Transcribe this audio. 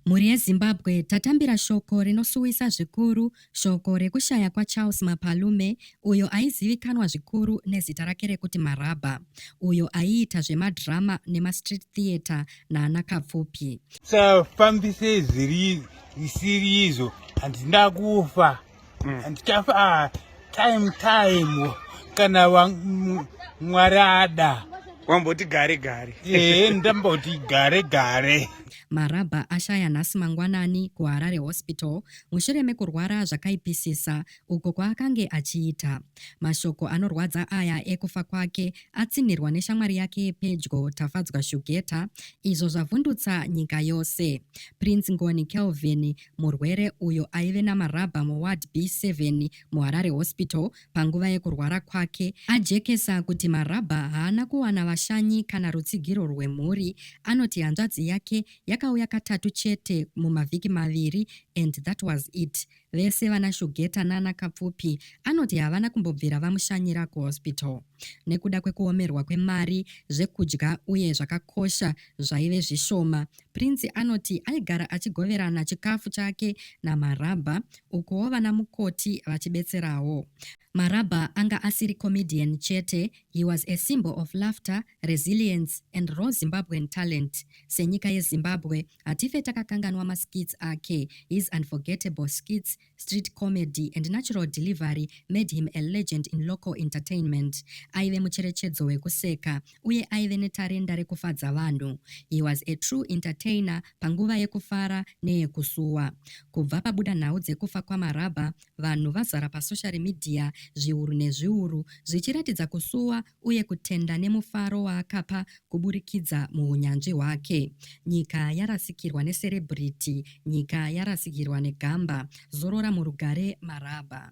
Mhuri yeZimbabwe tatambira shoko rinosuwisa zvikuru, shoko rekushaya kwaCharles Mapalume uyo aizivikanwa zvikuru nezita rake rekuti Marabha, uyo aiita zvemadhirama nemastreet theatre naana Kapfupi. Safambisei zviri zvisiri izvo handina kufa. mm. and stuff ah, time time kana mwari ada wamboti gare gare ee eh, ndamboti gare gare marabha ashaya nhasi mangwanani kuharare hospital mushure mekurwara zvakaipisisa uko kwaakange achiita mashoko anorwadza aya ekufa kwake atsinhirwa neshamwari yake yepedyo tafadzwa shugeta izvo zvavhundutsa nyika yose prince ngoni kelvin Murwere uyo aive namarabha muWard B7 muHarare Hospital panguva yekurwara kwake ajekesa kuti marabha haana kuwana vashanyi kana rutsigiro rwemhuri anoti hanzvadzi yake yakauya katatu chete mumavhiki maviri and that was it. Vese vana Shugeta nana Kapfupi anoti havana kumbobvira vamushanyira kuhospital nekuda kwekuomerwa kwemari, zvekudya uye zvakakosha zvaive zvishoma. Prince anoti aigara achigoverana chikafu chake naMarabha ukuwo vana mukoti vachibetserawo. Marabha anga asiri comedian chete, he was a symbol of laughter, resilience and raw Zimbabwean talent. Senyika yeZimbabwe, hatife takakanganwa maskits ake, his unforgettable skits Street comedy and natural delivery made him a legend in local entertainment. Aive mucherechedzo wekuseka uye aive netarenda rekufadza vanhu. He was a true entertainer panguva yekufara neyekusuwa. Kubva pabuda nhau dzekufa kwaMarabha, vanhu vazara pasoshari midhiya zviuru nezviuru zvichiratidza kusuwa uye kutenda nemufaro waakapa kuburikidza muhunyanzvi hwake. Nyika yarasikirwa necelebrity, nyika yarasikirwa negamba. Zorora murugare Marabha.